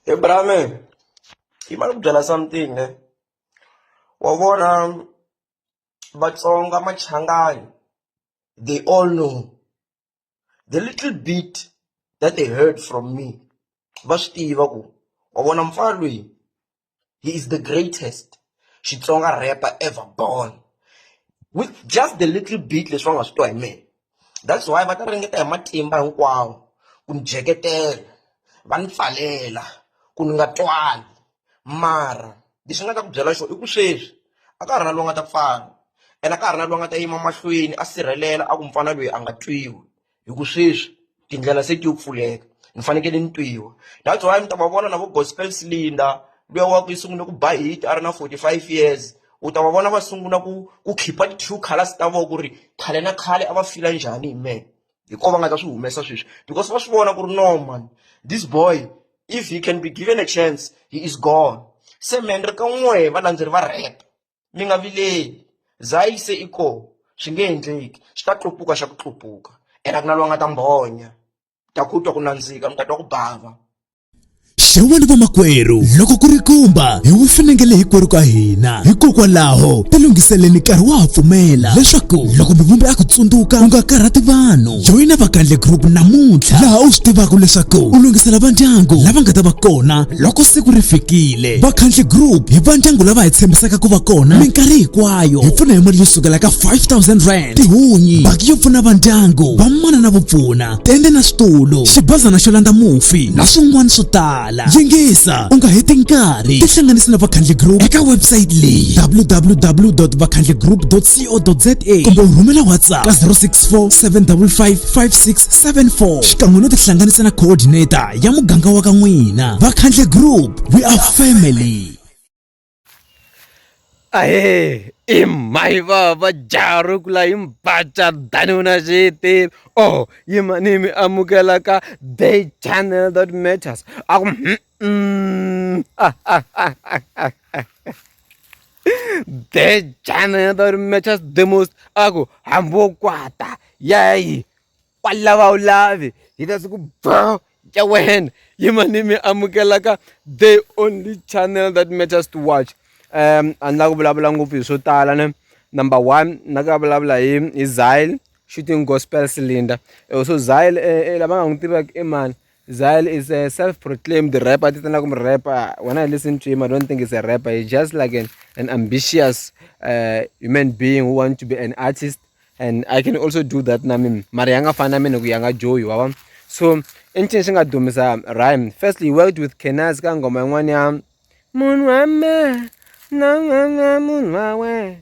he brame yi ma ni ku byela something ne wa vona vatsonga machangani they all know the little bit that they heard from me va swi tiva ku wa vona mfana loyi he is the greatest xitsonga rapper ever born with just the little bit leswi va nga swi twa hi mina that's why va ta ringeta hi matimba hinkwawo ku ni jeketela va ni pfalela ku ni nga twali mara lexi nga ta ku byela xona i ku sweswi a ka ha ri na loyi nga ta pfala ene a ka ha ri na loyi nga ta yima mahlweni a sirhelela a ku mfana loyi a nga twiwi hi ku sweswi tindlela se ti yo pfuleka ni fanekele ni twiwa that's why mi ta va vona na vo gospel cylinder luya wa ku yi sungule ku ba hit a ri na 45 years u ta va vona va sungula ku ku khipha ti-true colors ta vona ku ri khale na khale a va fila njhani hi mehe hi ko va nga ta swi humesa sweswi because va swi vona ku ri no man this boy if he can be given a chance he is gone se mendre ka n'we valandzeri va rap mi nga vileli za yi se i kona swi nge endleki swi ta tlupuka xa ku tlupuka ene a ku na loyi a nga ta mbonya ta ku twa ku nandzika mi ta twa ku bava xewani vamakwerhu loko ku ri kumba hi wu finengele hinkwerhu ka hina hikokwalaho tilunghiseleni nkarhi wa ha pfumela leswaku loko mivumbi a ku tsundzuka u nga karhati vanhu joyina vakandle group namuntlha laha u swi tivaka leswaku u lunghisela vandyangu lava nga ta va kona loko siku ri fikile vakhandli group hi va ndyangu lava hi tshembisaka ku va kona minkarhi hinkwayo hi pfuna hi mali yo sukela ka 5000 rand tihunyi baki yo pfuna va ndyangu vamana na vupfuna tende na switulu xibazana xo landza mufi na swin'wana swo tala yingisa u nga heti nkarhi tihlanganisi na vakhandli group eka website leyi www.vakhandligroup.co.za kumbe u rhumela whatsapp ka 064 755 5674 xikan'we no tihlanganisa na coordinator ya muganga wa ka n'wina vakhandle group we are family ahe i mhayi vava jaro kula hi mbaca dani una xiyitini o oh, yimani mi amukela ka day channel that matters a ku day channel that matters the most a ku hambi wo kwata yayi Kwalava u lavi hi ta siku bro ya wena yima ni mi amukelaka the only channel that matters to watch um a ni la ku vulavula ngopfu hi swo tala ne number one na ka vulavula hi hi zile shooting gospel cylinder eh, so zile eh, eh, lava nga n'wi tivaki i mani Zayl is a self-proclaimed rapper ti tana ku mi rapper when I listen to him I don't think he's a rapper he's just like an, an ambitious uh, human being who want to be an artist and I can also do that na mimi mara ya nga fani na mina ku ya nga joyi wa vona so i ncini xi nga dumisa rhyme firstly he worked with Kenaz ka ngoma yin'wana ya munhu wa me na nga nga munhu wa wena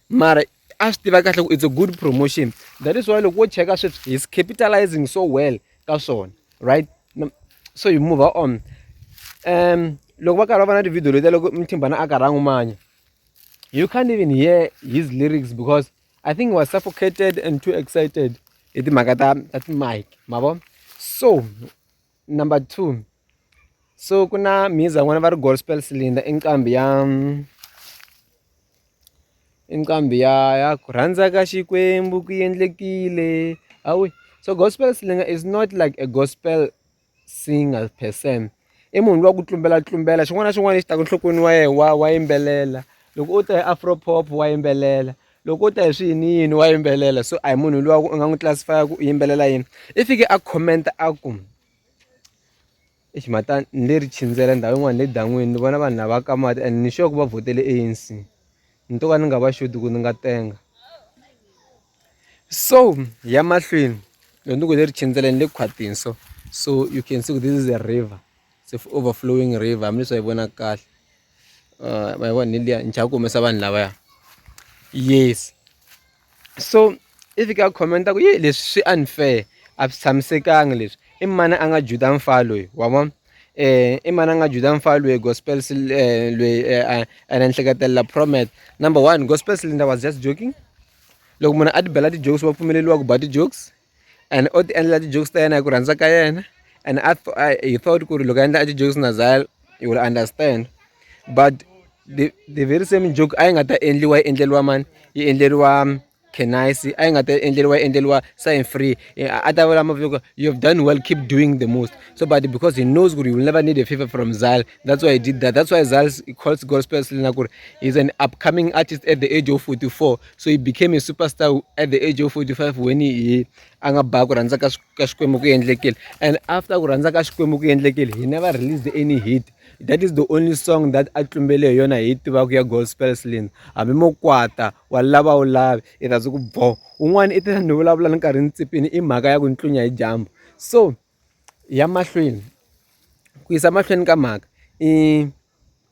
mara a swi tiva kahle ku it's a good promotion that is why loko wo cheka sweswi he's capitalizing so well ka swona right so you move on um loko va karhi va va na tivhidiyo letiya loko mthimbana a karhi a n'wi manya you can't even hear his lyrics because i think he was suffocated and too excited hi timhaka ta ta timike ma vo so number two so ku na mhiza n'wana va ri gospel cylinder i nqambi ya i nqambi ya ya ku rhandza ka xikwembu ku endlekile awi so gospel cylinder is not like a gospel singer per se i munhu lowa ku tlumbela tlumbela xin'wana na xin'wana lexi taka enhlokweni wa yena wa wa yimbelela loko u ta hi afro pop wa yimbelela loko u ta hi swi yini yini wa yimbelela so a hi munhu luwa u nga n'wi classify ku u yimbelela yini i fike a comment a ku i ximata ni le ri chindzela ndhawu yin'wana le dan'wini ni vona vanhu lava ka mati and ni sure ku va vhotele ANC ni to ka ni nga va xoti ku ni nga tenga so ya mahlweni loko ni ku le ri chindzela ni le khwatini so so you can see this is a river it's overflowing river hambileswi a yi vonaka kahle ma vona liya ni chava ku humesa vanhu lavaya yes so i fika a comment-a ku yi leswi swi unfair a swi tshamisekanga leswi i mani a nga juda mfana loyi wa vona um i mani a nga juda mfana loyi gospel loyi ene ni hleketelela promet number one gospel cylinder was just joking loko munhu a ti bela ti-jokes va pfumeleriwa ku ba ti-jokes and o ti endlela ti-jokes ta yena hi ku rhandza ka yena and I, I, he thought ku ri loko a endla a ti-jokes na zal you will understand but the, the very same joke a yi nga ta endliwa yi endleriwa mani yi endleriwa um, kenise a yi nga ta endleriwa yi endleriwa sign free a ta vula maviko you have done well keep doing the most so but because he knows ku ri you will never need a favor from zal that's why he did that that's why zal calls gospel na ku ri he's an upcoming artist at the age of 44 so he became a superstar at the age of 45 when he a nga ba ku rhandza ka ka xikwembu ku endlekile and after ku rhandza ka xikwembu ku endlekile he never released any hit that is the only song that a tlumbele hi yona hi tivaka ya gospel slin hambi mo kwata wa lava wu lavi i ta ku bo un'wana i ta ni vulavula ni nkarhi ni tsipini i mhaka ya ku ni tlunya hi dyambu so ya mahlweni ku yisa mahlweni ka mhaka i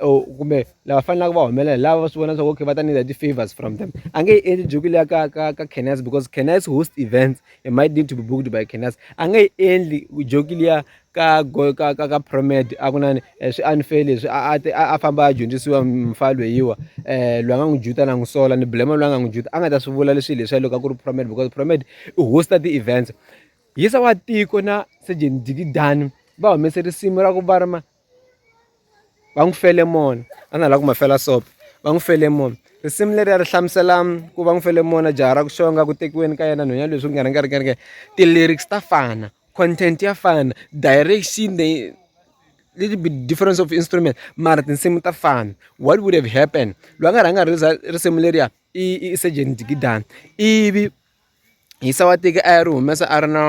or kumbe lava fanelaka va humelela hi lava va swi vona swa ku okay va ta need ti-favors from them a nge yi endli joki leya ka ka ka canus because canus host events it might need to be booked by canus a nge yi endli joki liya ka ka ka ka promed a ku nani eh, swi unfair leswi a a a famba a dyondzisiwa mfa lweyiwa um loyi a nga n'wi juta na n'wi sola ni blema loyi a nga n'wi juta a nga ta swi vula leswi leswiya loko a ku ri promed because promed i hosta ti-events yisa wa tiko na surgeon dikidani va humese risimu ra ku va rima va n'wi fele mona a na ha lava ku ma fela soap va n'wi fele mona risimu leriya ri hlamusela ku va n'wi fele mona jaha ra ku xonga ku tekiweni ka yena nhwenya leswi ku nga ri nga ri nga ri nga ti-lyrics ta fana content ya fana direction the little bit difference of instrument mara tinsimu ta fana what would have happened loyi a nga rhanga risimu leriya i i Sejeni Jikidana ivi. Yisa wa tiko a ya ri humesa a ri na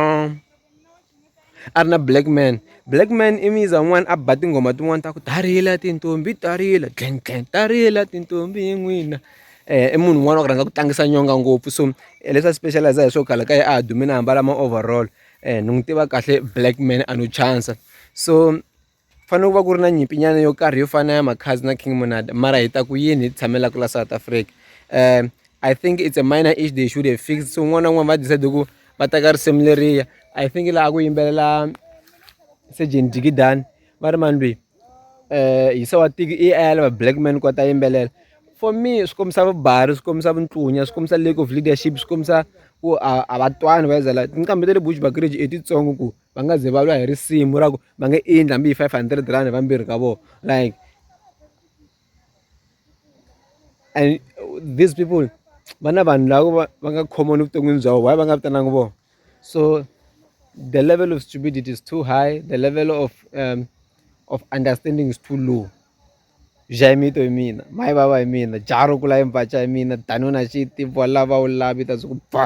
a ri na black man black man i muza wun'wani a ba tinghoma tin'wani ta ku ta rila tintombi ta rila gang gang ta rila tintombi hi n'wina i munhu un'wana wa ku rhandza ku tlangisa nyonga ngopfu so leswi a special-iza hi swo kala kahle a dumile a ambala ma-overall ni n'wi tiva kahle black man a no chance so. Fane ku va ku ri na nyimpi nyana yo karhi yo fana na ya Makhadzi na King Monada mara hi ta ku yini hi tshamela ku la South Africa um I think it's a minor issue they should have fixed so un'wana na un'wana va decide ku va teka risimu leriya I think laha ku yimbelela Sergeant Digidani va ri mani lweyi um hi se wa tiki i a ya lava black man ku a ta yimbelela for me swi kombisa vubari swi kombisa vuntlunya swi kombisa lack of leadership swi kombisa ku a a va twani va zala tinqambi ta le Bushbuckridge i titsongo ku va nga ze va lwa hi risimu ra ku va nge endli hambi hi five hundred rand vambirhi ka vona like and these people va na vanhu lava va va nga common evuton'wini bya vona why va nga vitananga vona so the level of stupidity is too high the level of um, of understanding is too low jaimito hi mina mayi vava hi mina jaro kula hi mpaca hi mina danona xiti vola va wu lavi ta swi ku ba